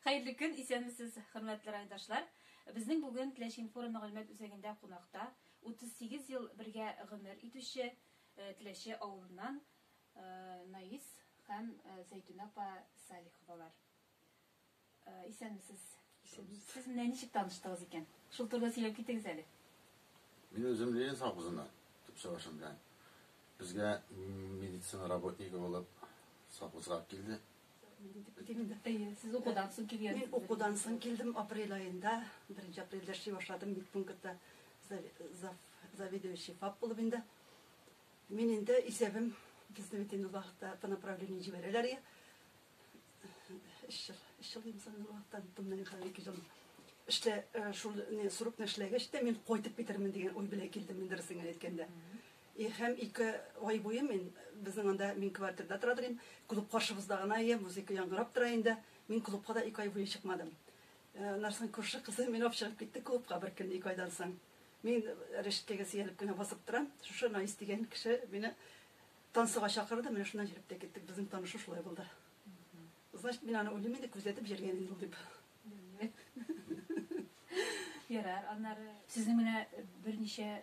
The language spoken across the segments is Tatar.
Хәерле көн, исәнмесез, хөрмәтле райдашлар! Безнең бүген Теләче-информ мәгълүмат үзәгендә кунакта 38 ел бергә гомер итүче Теләче авылыннан Наис һәм Зәйтүнә апа Салиховалар. Исәнмесез! Исәнмесез! Сез менә ничек таныштыгыз икән? Шул турыда сөйләп китегез әле. Мин үзем Ленинск авызыннан, төп чыгышым белән. Безгә медицина работнигы булып совхозга килде. Сез укудан соң килгән. Мин укудан соң килдем апрель айында. Беренче апрельдә эшли башладым бит пунктта заведующий ФАП булып инде. Мин инде исәбем безне бит инде вакытта по направлению җибәрәләр иде. Өч ел, өч ел инде соң вакыттан томнан хәзер ике ел. Эшлә шул срокны эшләгәч тә мин кайтып китермен дигән уй белән килдем мин дөресен генә әйткәндә. И һәм ике ай буе мин безнең анда, мин квартирда тора торыйм, клуб каршыбызда гына ия, музыка яңгырап тора инде. Мин клубка да ике ай буе чыкмадым. Аннан соң күрше кызы мине алып чыгып китте клубка бер көн ике айдан соң. Мин рәшәткәгә сөялеп кенә басып торам, шушы Наис дигән кеше мине танцыга чакырды, менә шуннан җөреп тә киттек, безнең танышу шулай булды. Значит, мин аны уйлыйм инде, күзәтеп җөргән инде ул дип. Ярар, аннары сезнең менә берничә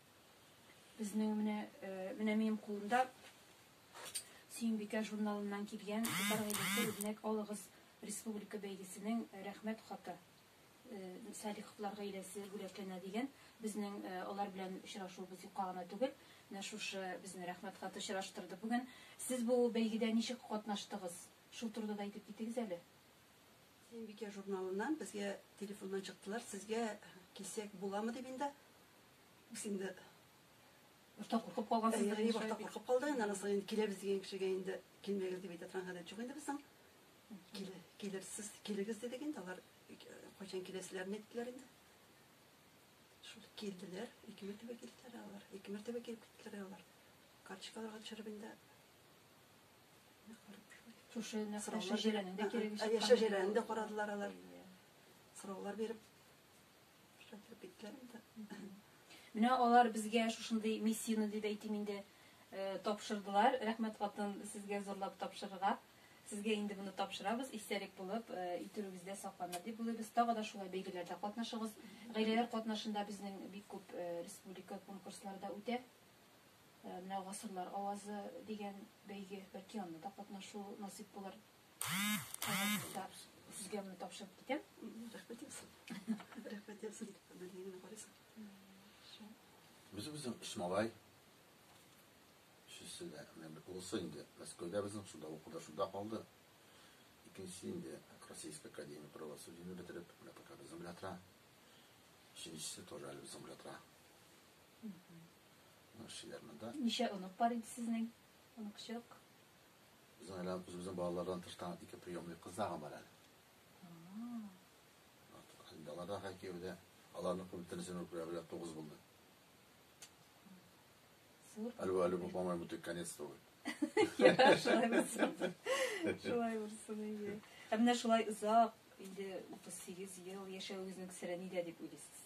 Безнең менә э, менә минем кулымда Сөембикә журналыннан килгән Татар гаиләсе үрнәк алыгыз республика бәйгесенең э, рәхмәт хаты. Э, Садиковлар гаиләсе бүләкләнә дигән. Безнең алар белән очрашуыбыз юкка гына түгел. Менә шушы безне рәхмәт хаты очраштырды бүген. Сез бу бәйгедә ничек катнаштыгыз? Шул турыда да әйтеп китегез әле. Сөембикә журналыннан безгә телефоннан чыктылар. Сезгә килсәк буламы дип инде Үз инде башта куркып калгансыздыр инде. Башта куркып калды, инде аннан соң киләбез дигән кешегә инде килмәгез дип әйтә торган гадәт юк инде безнең. Килерсез, килегез дидек инде, алар кайчан киләселәрен әйттеләр инде. Шул килделәр, ике мәртәбә килделәр алар. Ике мәртәбә килеп киттеләр алар. Карточкаларга төшереп инде Шушы нәрсә шәҗәрәнең дә кирәге чыккан. Шәҗәрәне дә карадылар алар. Сораулар биреп Менә алар безгә шушындый миссияне дип әйтим инде тапшырдылар. Рәхмәт хатын сезгә зурлап тапшырырга. Сезгә инде моны тапшырабыз, истәлек булып, итүегездә сакланыр дип уйлыйбыз. Тагы да шулай бәйгеләрдә катнашыгыз. Гаиләләр катнашында безнең бик күп республика конкурслары да үтә. Менә Гасырлар авазы дигән бәйге, бәлки анда да катнашу насыйп булыр. Үзе безнең өч малай. Өчесе дә, менә бер улысы инде Мәскәүдә безнең шунда укыды, шунда калды. Икенчесе инде Российская академия правосудияне бетереп, менә пока безнең белән тора. Өченчесе тоже әле безнең белән тора. Менә шулар монда. Ничә онык бар инде сезнең? Оныкчык. Безнең әле үзебезнең балалардан тыш та ике приемный кыз да бар әле. Алар да хәкие дә, аларның күптәнесен үкрә белә тугыз булды. Әлбә әле бу бамай бу конец түгел. Я шулай булсын. Шулай булсын иде. Ә менә шулай озак, инде 38 ел яшәвегезнең сире нидә дип уйлыйсыз?